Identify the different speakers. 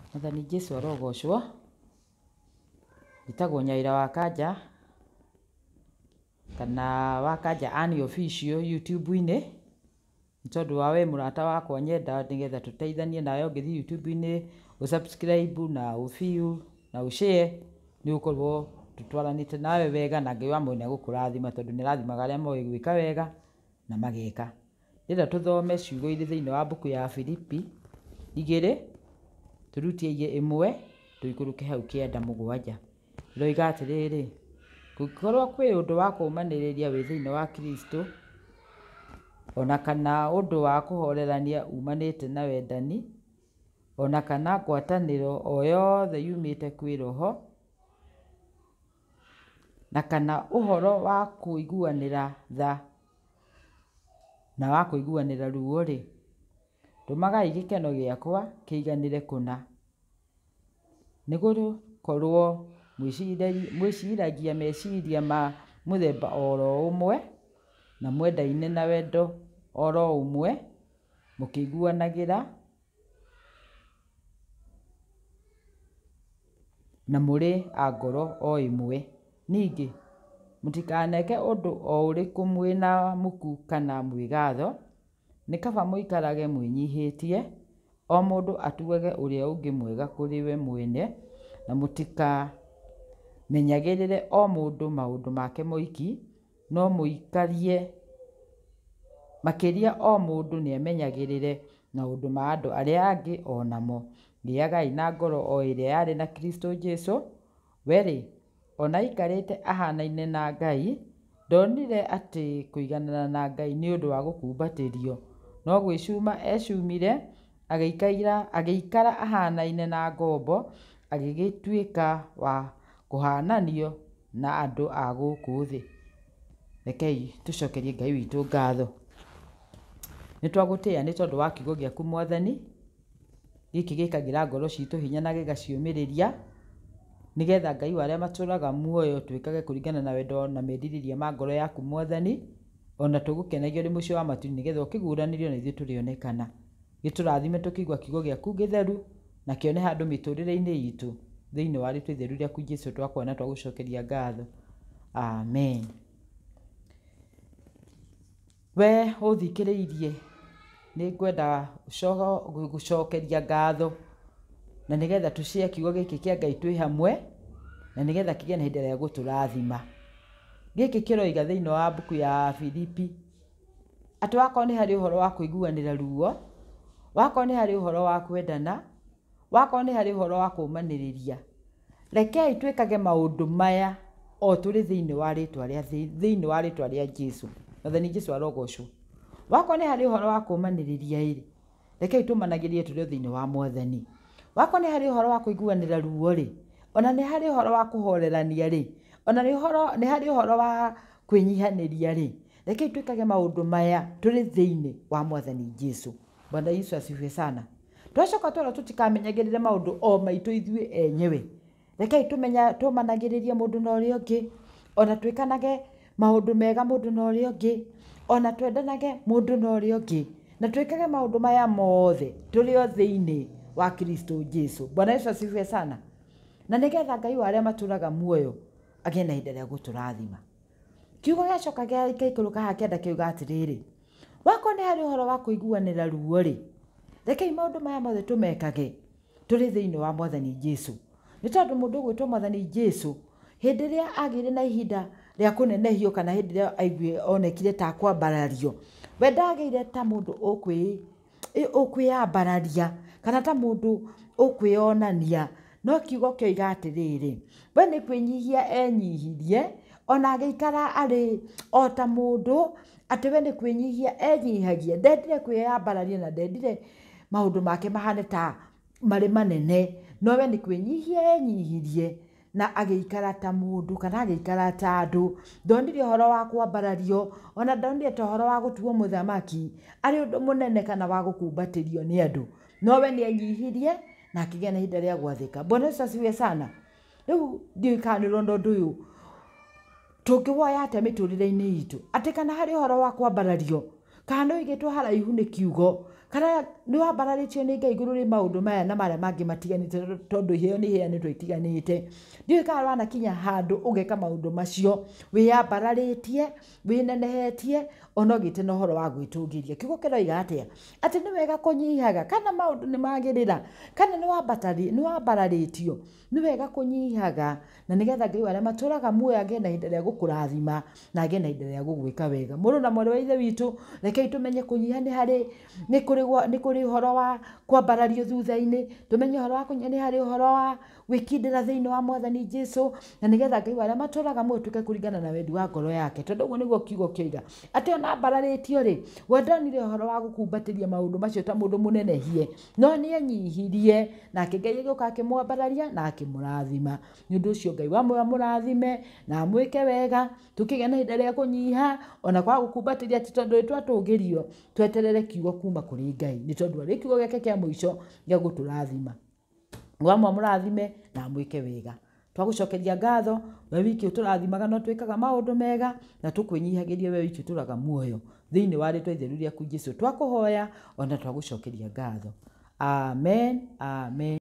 Speaker 1: Mwathani Jesu arogocwo, njĩtagwo Nyaĩra wa Kanja, kana wa Kanja Ann Official YouTube-inĩ, nĩ tondũ wa wee mũrata wakwa nyenda nĩ getha tũteithanie nawe ũngĩthiĩ YouTube-inĩ ũ subscribe na ũ view na ũ share nĩ ũgũkorwo tũtwaranĩte nawe wega na Ngai wa mweri nĩ egũkũrathima tondũ nĩ arathimaga arĩa moĩ gwĩka wega na mageka. Nĩgetha tũthome ciugo irĩ thĩinĩ wa mbuku ya Filipi igĩrĩ, tũrutie igĩ ĩmwe, tũikũrũke hau kĩanda mũgwanja. Ĩroiga atĩrĩrĩ, kũngĩkorwo kwĩ ũndũ wa kũũmanĩrĩria wĩ thĩinĩ wa Kristũ, ona kana ũndũ wa kũhoorerania uumanĩte na wendani, ona kana ngwatanĩro o yothe yumĩte kwĩ Roho, na kana ũhoro wa kũiguanĩra tha. na wa kũiguanĩra ruo-rĩ, tũmagai gĩkeno gĩakwa kĩiganĩre kũna. Nĩ gũkorũo mwĩciragia meciria ma mũthemba o ro ũmwe, na mwendaine na wendo o ro ũmwe, mũkĩiguanagĩra Na mũrĩ a ngoro o ĩmwe. Ningĩ, mũtikaneke ũndũ o ũrĩkũ mwĩ na muku kana mwĩgaatho, nĩ kaba mũikarage mwĩnyihĩtie, o mũndũ atuage ũrĩa ũngĩ mwega kũrĩ we mwene, na mũtikamenyagĩrĩre o mũndũ maũndũ make moiki. no mũikarie makĩria o mũndũ nĩ amenyagĩrĩre maũndũ ma andũ arĩa angĩ o namo. Gĩagai na ngoro o ĩrĩa yarĩ na Kristo Jesu, we rĩ, o na aikarĩte ahaanaine na Ngai, ndonire atĩ kũiganana na Ngai nĩ ũndũ wa gũkumbatĩrio, no gwĩcuma eecumire, Agĩikaira, agĩikara ahaanaine na ngombo, agĩgĩtuĩka wa kũhaananio na andũ a gũkũ thĩ. Rekei tũcokerie Ngai witũ ngatho. Nĩ twagũtĩĩa nĩ tondũ wa kiugo gĩaku Mwathani, gĩkĩ gĩkagĩra ngoro citũ hinya na gĩgaciũmĩrĩria, nĩgetha Ngai wa arĩa matũũraga muoyo twĩkage kũringana na wendo na merirĩria ma ngoro yaku Mwathani. O na tũgũkenagio ũrĩ mũico wa matu nĩ getha ũkĩguũranĩrio na ithuĩ tũrĩonekana. Gĩtũrathime tũkĩigua kiugo gĩaku gĩtheru na kĩone handũ mĩtũrĩre-inĩ itũ thĩinĩ wa rĩtwa itheru rĩaku Jesu twakwona na twagũcokeria ngatho. Amen. We ũthikĩrĩirie. Nĩ ngwenda gũgũcokeria ngatho na nĩ getha tũshare kiugo gĩkĩ kĩa Ngai twĩ hamwe na nĩ getha kĩgĩe na ihinda rĩa gũtũrathima. Gĩkĩ kĩroiga thĩinĩ wa mbuku ya Filipi atĩ wakorwo nĩ harĩ ũhoro wa kũiguanĩra ruo, wakorwo nĩ harĩ ũhoro wa kwendana... Wakorwo nĩ harĩ ũhoro wa kũũmanĩrĩria, rekei twĩkage maũndũ maya o tũrĩ thĩinĩ wa rĩtwa rĩa thĩinĩ wa rĩtwa rĩa Jesu. Mwathani Jesu arogocwo. Wakorwo nĩ harĩ ũhoro wa kũũmanĩrĩria ĩrĩ, rekei tũmanagĩrĩrie tũrĩ o thĩinĩ wa Mwathani. Wakorwo nĩ harĩ ũhoro wa kũiguanĩra ruo rĩ, ona nĩ harĩ ũhoro wa kũhorerania rĩ, ona nĩ ũhoro nĩ harĩ ũhoro wa kwĩnyihanĩria rĩ, rekei twĩkage maũndũ maya tũrĩ thĩinĩ wa Mwathani Jesu. Bwana Yesu asifiwe sana. Twacoka twona tũtikamenyagĩrĩre maũndũ o maitũ ithuĩ enyewe. Rekei tũmenya tũmanagĩrĩrie mũndũ na ũrĩa ũngĩ, ona twĩkanage maũndũ mega mũndũ na ũrĩa ũngĩ, ona twendanage mũndũ na ũrĩa ũngĩ, na twĩkage maũndũ maya mothe tũrĩ o thĩinĩ wa Kristo Jesu. Bwana Yesu asifiwe sana. Na nĩgetha Ngai wa arĩa matũraga muoyo agĩe na ihinda rĩa gũtũrathima. Kiugo gĩacoka gĩgaikũrũka haha kĩanda kĩuga atĩrĩrĩ, Wakorwo nĩ harĩ ũhoro wa kũiguanĩra ruo-rĩ, rekei maũndũ maya mothe tũmekage tũrĩ thĩinĩ wa Mwathani Jesu. Nĩ tondũ mũndũ ũgwĩtwo Mwathani Jesu, hĩndĩ ĩrĩa agĩire na ihinda rĩa kũnenehio kana hĩndĩ ĩrĩa aiguire onekire ta akwambarario, we ndagĩire ta mũndũ ũkwĩĩ. ĩ ũkwĩyambararia kana ta mũndũ ũkwĩyonania, no kiugo kĩoiga atĩrĩrĩ, we nĩ kwĩnyihia enyihirie, ona agĩikara arĩ o ta mũndũ, atĩ we nĩ kwĩnyihia enyihagia, ndendire kwĩyambararia na ndendire maũndũ make mahane ta. marĩ manene, no we nĩ kwĩnyihia enyihirie, na agĩikara ta mũndũ, kana agĩikara ta andũ, ndonire ũhoro wa kwambarario, ona ndonire ta ũhoro wa gũtuwo mũthamaki, arĩ ũndũ mũnene kana wa gũkumbatĩrio nĩ andũ, no we nĩ enyihirie, na akĩgĩa na ihinda rĩa gwathĩka. Bwana Yesu asifiwe sana. Rĩu ndiũĩ kana nĩ ũrona ũndũ ũyũ, tũngĩwoya atĩa mĩtũrĩre-inĩ itũ? Atĩ kana harĩ ũhoro wa kwambarario, kana nĩ ũigĩtwo haraihu nĩ kiugo, kana nĩ wambararĩtio nĩ Ngai igũrũ rĩa maũndũ maya na marĩa mangĩ matiganĩte tondũ iheo nĩ iheanĩtwo itiganĩte. Ndiũĩ kana wanakinya handũ ũgeka maũndũ macio, wĩyambararĩtie, wĩnenehetie onogĩte na ũhoro wa gwĩtũngĩria kiugo kĩroiga atĩa atĩ nĩ wega kũnyihaga kana maũndũ nĩ magĩrĩra kana nĩ wambararĩtio nĩ wega kũnyihaga na nĩgetha ngai arĩa matũraga muoyo angĩe na ihinda rĩa gũkũrathima na angĩe na ihinda rĩa gũgwĩka wega mũrũ na mwarĩ wa ithe witũ rekei tũmenye kũnyiha nĩ harĩ nĩ kũrĩ ũhoro wa kwambarario thutha-inĩ tũmenye ũhoro wa kũnyiha nĩ harĩ ũhoro wa gwĩkindĩra thĩinĩ wa mwathani jesu na nĩgetha ngai wa arĩa matũraga muoyo tuke kũringana na wendi wa ngoro yake tondũ ũguo nĩguo kiugo kĩoiga atĩ ona mbararĩtio rĩ we ndonire ũhoro wa gũkumbatĩria maũndũ macio ta mũndũ mũnenehie no nĩ enyihirie nake ngai agĩũka akĩmwambararia na akĩmũrathima nĩ ũndũ ũcio ngai wa muoyo amũrathime na amwĩke wega tũkĩgĩa na ihinda rĩa kũnyiha ona kwaga gũkumbatĩria ti tondũ twatũgĩrio tweterere kiugo kuma kũrĩ ngai nĩ tondũ arĩ kiugo gĩake kĩa mũico gĩa gũtũrathima Nĩ wamwa mũrathime na amwĩke wega. Twagũcokeria ngatho, we wiki ũtũrathimaga na ũtwĩkaga maũndũ mega, na tũkwĩnyihagĩria we wiki ũtũraga muoyo. Thĩinĩ wa rĩtwa itheru rĩaku Jesu twakũhoya, ona twagũcokeria ngatho. Amen, Amen.